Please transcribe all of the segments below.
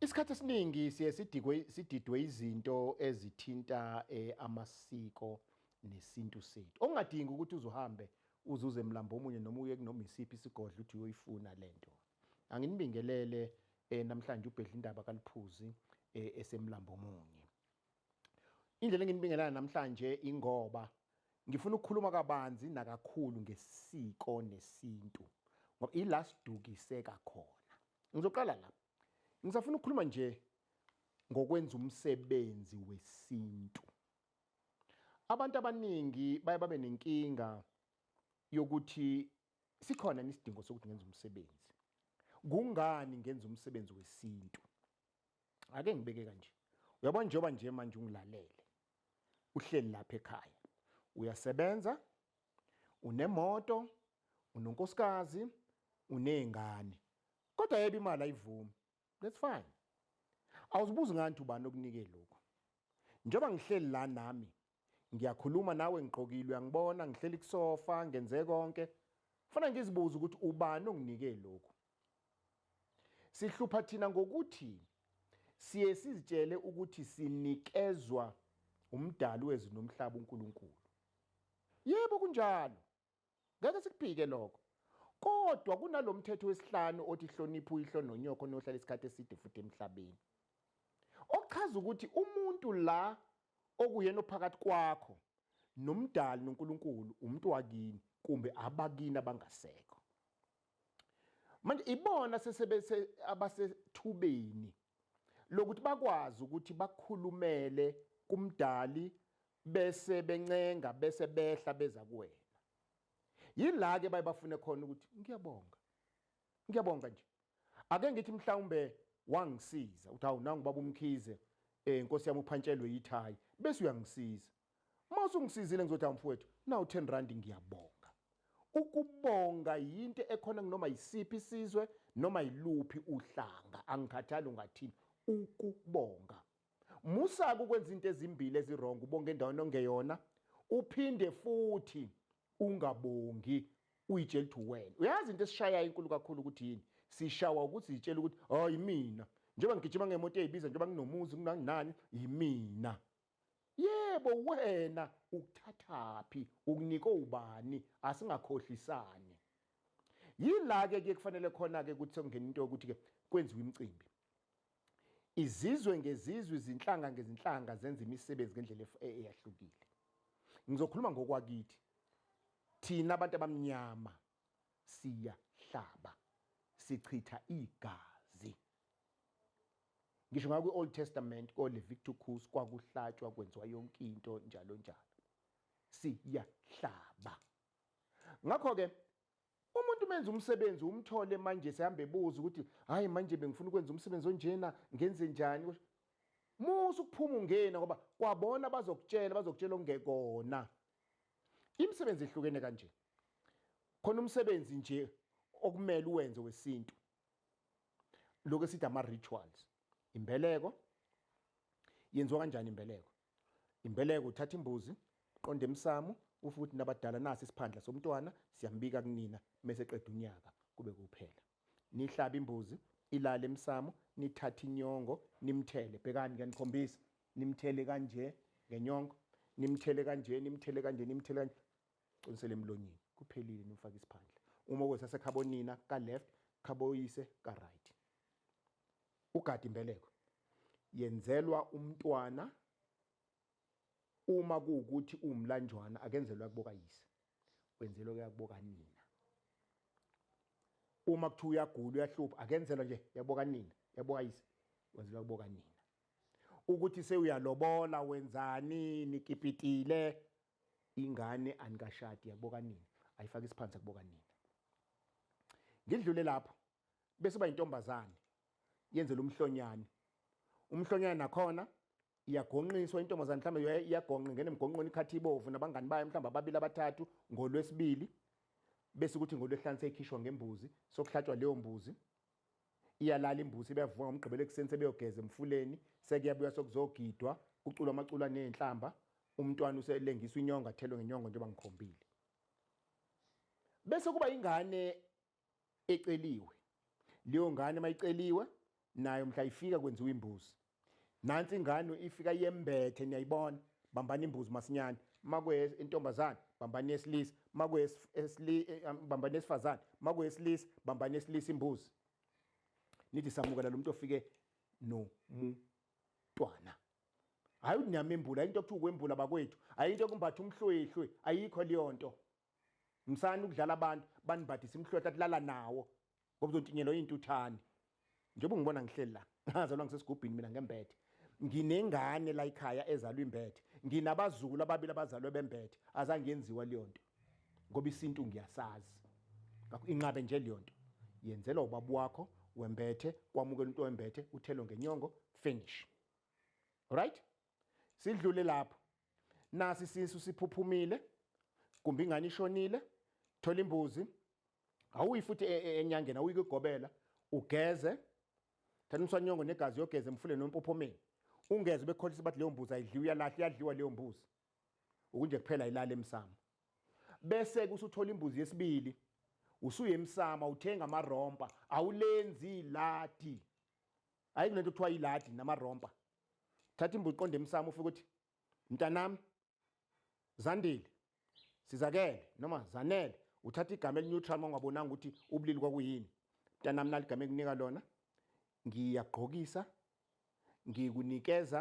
Isikhathi esiningi siye sidikwe sididwe izinto ezithinta eh, amasiko nesintu sethu. Ongadingi ukuthi uzuhambe uzuze emlambo omunye noma uye kunoma isiphi isigodlo uthi uyoyifuna lento. Anginibingelele eh, namhlanje ubhedla indaba kaliphuzi eh, esemlambo omunye. Indlela enginibingelana namhlanje ingoba ngifuna ukukhuluma kabanzi nakakhulu ngesiko nesintu ngoba ila sidukiseka khona. Ngizoqala la. Ngisafuna ukukhuluma nje ngokwenza umsebenzi wesintu. Abantu abaningi baye babe nenkinga yokuthi Sikhona isidingo sokuthi ngenze umsebenzi. Kungani ngenza umsebenzi wesintu? Ake ngibeke kanje. Uyabona njengoba nje manje ungilalele. Uhleli lapha ekhaya. Uyasebenza, unemoto, unonkosikazi, unezingane. Kodwa yebo imali ayivumi. That's fine. Awuzibuzi ngani ubani okunike lokho. Njengoba ngihleli la nami ngiyakhuluma nawe ngigqokile uyangibona ngihleli kusofa ngenze konke fana ngizibuza ukuthi ubani onginike lokhu sihlupha thina ngokuthi siye sizitshele ukuthi sinikezwa umdali wezwi nomhlaba uNkulunkulu yebo kunjalo Ngeke sikuphike lokho. Kodwa kunalomthetho wesihlanu othi hlonipha uyihlo nonyoko nohlala isikhathi eside futhi emhlabeni. Okuchaza ukuthi umuntu la okuyena ophakathi kwakho nomdali noNkulunkulu umuntu wakini kumbe abakini abangasekho. Manje ibona sesebese abasethubeni lokuthi bakwazi ukuthi bakhulumele kumdali bese bencenga bese behla beza kuwena yila ke baye bafune khona ukuthi ngiyabonga ngiyabonga nje ake ngithi mhlawumbe wangisiza uthi hawu nangu baba umkhize eh inkosi yami uphantshelwe yithayi bese uyangisiza mase ungisizile ngizothi amfowethu nawu 10 rand ngiyabonga ukubonga yinto ekhona kunoma yisiphi isizwe noma yiluphi uhlanga angikhathali ungathini ukubonga Musa-ke ukwenza into ezimbili ezirongo, ubonga endaweni ongeyona, uphinde futhi ungabongi uyitshela ukuthi uwena. Uyazi into esishayayo inkulu kakhulu ukuthi yini? Sishawa ukuthi zitshela ukuthi hawu yimina. Njengoba ngigijima ngemoto eyibiza njengoba nginomuzi kunanginani yimina. Yebo wena ukuthathaphi ukunike ubani asingakhohlisani. Yila ke kuye kufanele khona ke ukuthi sekungena into yokuthi ke kwenziwe imicimbi. Izizwe ngezizwe, izinhlanga ngezinhlanga zenza imisebenzi ngendlela e-, eyahlukile. Ngizokhuluma ngokwakithi. Thina abantu abamnyama siyahlaba, sichitha igazi. Ngisho ngakwi Old Testament ko Leviticus kwakuhlatshwa kwenziwa yonke into njalo njalo. Siyahlaba. Ngakho ke Umuntu menza umsebenzi umthole manje sehambe ebuza ukuthi hayi manje bengifuna ukwenza umsebenzi onjena ngenze njani musa ukuphuma ungena ngoba kwabona bazokutshela bazokutshela ongekona imisebenzi ehlukene kanje khona umsebenzi nje okumele uwenze wesintu lokho esithi ama-rituals imbeleko yenziwa kanjani imbeleko Imbeleko uthatha imbuzi, qonda emsamo, ufe ukuthi nabadala nasi isiphandla somntwana siyambika kunina mese qeda unyaka kube kuphela. Nihlaba imbuzi, ilale emsamo, nithathe inyongo, nimthele. Bhekani ngiyanikhombisa. Nimthele kanje ngenyongo, nimthele kanje, nimthele kanje, nimthele kanje. Qinisele emlonyeni. Kuphelile nimfaka isiphandla. Uma kwesase khabonina ka left, khaboyise ka right. ugada imbeleko yenzelwa umntwana uma kuwukuthi uwumlanjwana akenzelwa kuboka yise wenzelwa kuyakuboka nina uma kuthiwa uyagula uyahlupha akenzelwa nje yaboka nina yaboka yise wenzelwa kuboka nina ukuthi sewuyalobola wenzani nikipitile ingane anikashadi yakuboka nini ayifaka isiphansi yakuboka nini ngidlule lapho bese uba intombazane yenzela umhlonyane umhlonyane nakhona iyagonqiswa intombazane mhlawumbe iyagonqa ingene emgonqweni ikhathi ibovu nabangani bayo mhlawumbe ababili abathathu ngolwesibili bese ukuthi ngolwehlanu seyikhishwa ngembuzi sokuhlatshwa leyo mbuzi iyalala imbuzi beyavuka ngomgqibelo ekuseni sebeyogeza emfuleni sekuyabuya sokuzogidwa kuculwa amaculo aney'nhlamba umntwana uselengiswa inyongo athelwe ngenyongo njengoba ngikhombile bese kuba ingane eceliwe leyo ngane mayiceliwe nayo mhla ifika kwenziwa imbuzi nansi ingane ifika yembethe niyayibona bambani imbuzi masinyane makwe intombazane bambani yesilisa makwe eh, um, bambani yesifazane makwe yesilisa bambani yesilisa imbuzi nithi samukela lo muntu ofike nomntwana hayi unyama embula into okuthiwa ukwembula bakwethu ayinto kumbatha umhlwehlwe ayikho leyo nto msani ukudlala abantu banibhadisa imhlohla kulala nawo ngoba uzontinyelwa intuthane njengoba ungibona ngihleli la ngazalwa ngisesigubhini mina ngembethe nginengane la ekhaya ezalwa imbethe nginabazukulu ababili abazalwe bembethe azange yenziwa leyo nto ngoba isintu ngiyasazi ngakho inqabe nje leyo nto yenzelwa ubaba wakho wembethe kwamukela umuntu wembethe uthelo ngenyongo finish right sidlule lapho nasi sinsu siphuphumile kumbe ingane ishonile thola imbuzi awuyi futhi e, e, enyangeni awuyi kugobela ugeze thatha umswanyongo negazi yogeze emfuleni nompophomeni ungeze bekholisa bathi leyo mbuzi ayidliwa uyalahla iyadliwa leyo mbuzi ukunje kuphela ilale emsamo bese kusuthola imbuzi yesibili usuye emsama uthenga amarompa awulenzi iladi hayi kunento kuthiwa iladi namarompa thatha imbuzi qonde emsamo ufike ukuthi mntanami zandile sizakele noma zanele uthatha igama elineutral uma ungabonanga ukuthi ubulili kwakuyini mntanami nali igama ekunika lona ngiyagqokisa ngikunikeza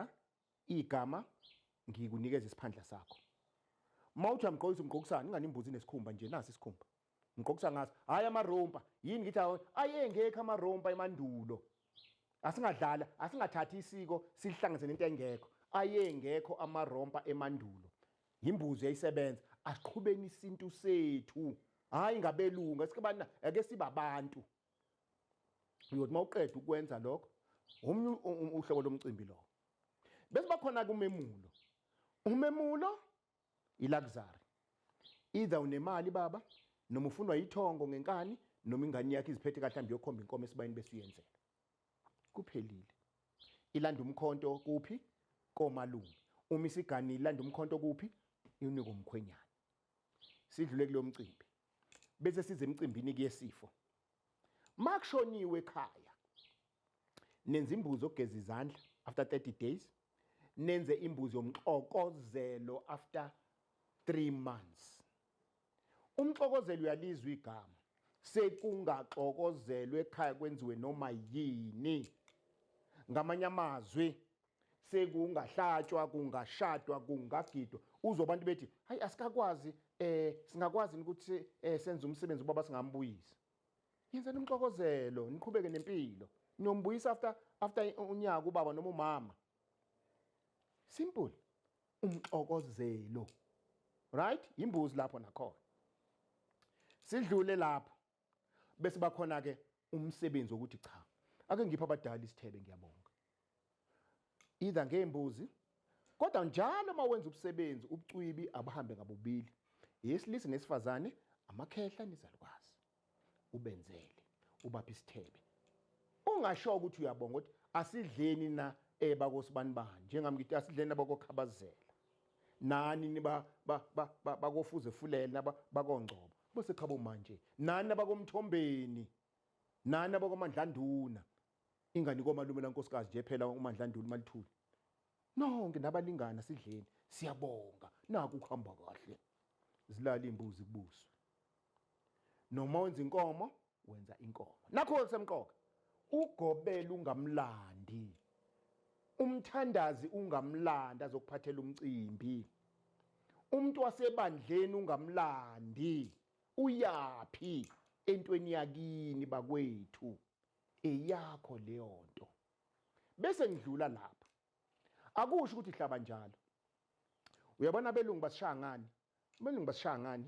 igama ngikunikeza isiphandla sakho uma uthi uyamgqokisa umgqokisani ingane imbuzi inesikhumba nje nasi isikhumba ngiqokisa ngaso hayi amarompa yini ngithi ayengekho amarompa emandulo asingadlala asingathathi isiko silihlanganise nento engekho ayengekho amarompa emandulo yimbuzo yayisebenza asiqhubeni isintu sethu hayi ngabelungu esikubana ake sibabantu uyothi mawuqeda ukwenza lokho omunye uhlobo lomcimbi lo bese bakhona kumemulo umemulo iluxury either unemali baba noma ufunwa yithongo ngenkani noma ingane yakhe iziphethe kahle hambe yokhomba inkomo esibayini bese uyenzela kuphelile ilanda umkhonto kuphi komalume uma isigani ilanda umkhonto kuphi inika umkhwenyana sidlule kulomcimbi bese size emcimbini kuyesifo makushoniwe ekhaya nenza imbuzi ogeza izandla after 30 days nenze imbuzi yomxokozelo after 3 months umxokozelo uyalizwa igama sekungaxokozelwe ekhaya kwenziwe noma yini ngamanye amazwi sekungahlatshwa kungashadwa kungagidwa uzwa abantu bethi hayi asikakwazi eh singakwazi ukuthi eh, senze umsebenzi ubaba singambuyisa yenzani umxokozelo niqhubeke nempilo niyombuyisa after after unyaka ubaba noma umama simple umxokozelo right imbuzi lapho nakhona sidlule lapho bese bakhona ke umsebenzi wokuthi cha ake ngiphe abadala isithebe ngiyabonga either ngeembuzi kodwa njalo uma wenza ubusebenzi ubucwibi abuhambe ngabobili yesilisa nesifazane amakhehla nizalukwazi ubenzele ubaphi isithebe ungasho ukuthi uyabonga ukuthi asidleni na ebakosibani eh, bani njengami ngithi asidleni abakokhabazela nani niba bakofuze fulele naba bakongcobo Bese cha bo manje nani abakomthombeni nani abakwamandlanduna ingane komalume lankosikazi nje phela umandlanduna malithuli nonke nabalingana sidleni siyabonga naku kuhamba kahle zilala imbuzi kubuswe noma wenza inkomo wenza inkomo nakho okusemqoka ugobela ungamlandi umthandazi ungamlandi azokuphathela umcimbi umuntu wasebandleni ungamlandi uyaphi entweni yakini bakwethu eyakho leyo nto bese ngidlula lapha akusho ukuthi hlaba njalo uyabona abelungu basishaya ngani abelungu basishaya ngani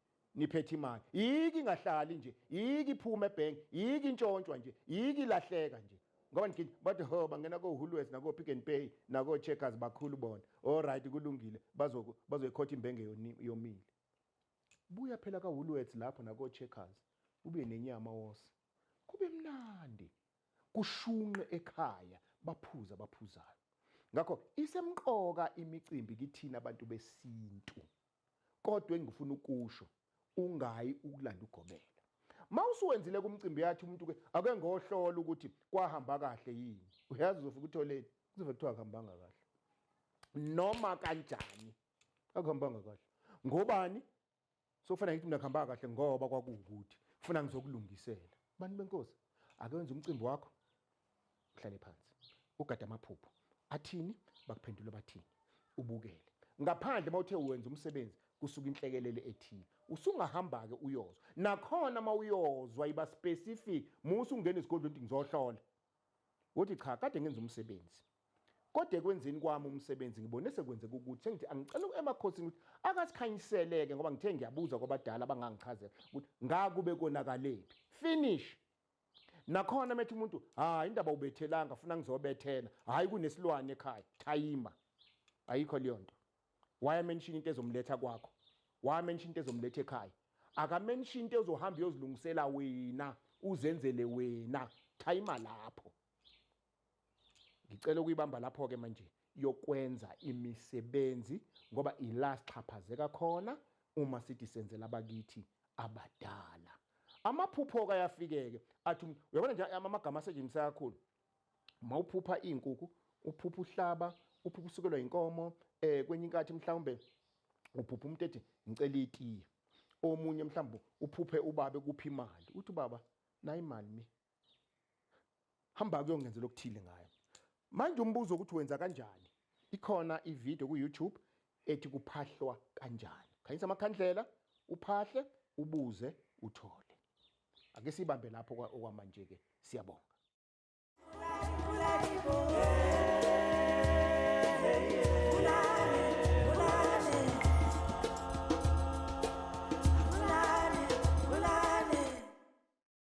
niphethe imali yiki ingahlali nje yiki iphuma ebank yiki intshontshwa nje yiki ilahleka nje ngoba ngithi bathi ho bangena kohulwes nakopick and pay nakocheckers bakhulu bona olright kulungile bazoyikhotha imbenge yomile buya phela kahulwets lapho nakocheckers ube nenyama wose kube mnandi kushunqe ekhaya baphuza baphuzayo ngakho isemqoka imicimbi kithina abantu besintu kodwa engifuna ukusho ungayi ukulanda ugobela mawusuwenzile kumcimbi yathi umuntu ke ake ngohlola ukuthi kwahamba kahle yini uyazi uzofika utholeni kuzobe kuthiwa akuhambanga kahle noma kanjani akuhambanga kahle ngobani sokufanele ngithi mina kuhamba kahle ngoba kwakuwukuthi kufuna ngizokulungisela bantu benkosi ake wenze umcimbi wakho uhlale phansi ugade amaphupho athini bakuphendula bathini ubukele ngaphandle uma uthe wenza umsebenzi kusuka inhlekelele ethile usungahamba-ke uyozwa nakhona uma uyozwa iba specific musa ungena esigodlweni ukuthi ngizohlola wothi cha kade ngenza umsebenzi kodwa ekwenzeni kwami umsebenzi ngibone sekwenzeka ukuthi sengithi angicela emakhosini ukuthi akasikhanyiseleke ngoba ngithe ngiyabuza kwabadala abangangichazela ukuthi ngakube konakaleni finish nakhona methi umuntu hayi indaba ubethelanga funa ngizobethela hayi kunesilwane ekhaya thayima ayikho leyo nto waya mention into ezomletha kwakho waya mention into ezomletha ekhaya aka mention into ezohamba uyozilungisela wena uzenzele wena thayima lapho ngicela ukuyibamba lapho ke manje yokwenza imisebenzi ngoba ila sixhaphazeka khona uma sithi senzela abakithi abadala amaphupho ka yafikeke athi um, uyabona nje amagama asetshenziswa kakhulu uma uphupha izinkukhu uphupha uhlaba uphupha usukelwa inkomo eh kwenye inkathi mhlawumbe uphupha umuntu ethi ngicela itiye omunye mhlawumbe uphuphe ubabe kuphi imali uthi baba nayi imali mi hamba kuyongenzela okuthile ngayo manje umbuzo ukuthi wenza kanjani ikhona ivideo ku-youtube ethi kuphahlwa kanjani khanyisa amakhandlela uphahle ubuze uthole ake sibambe lapho okwamanje-ke siyabonga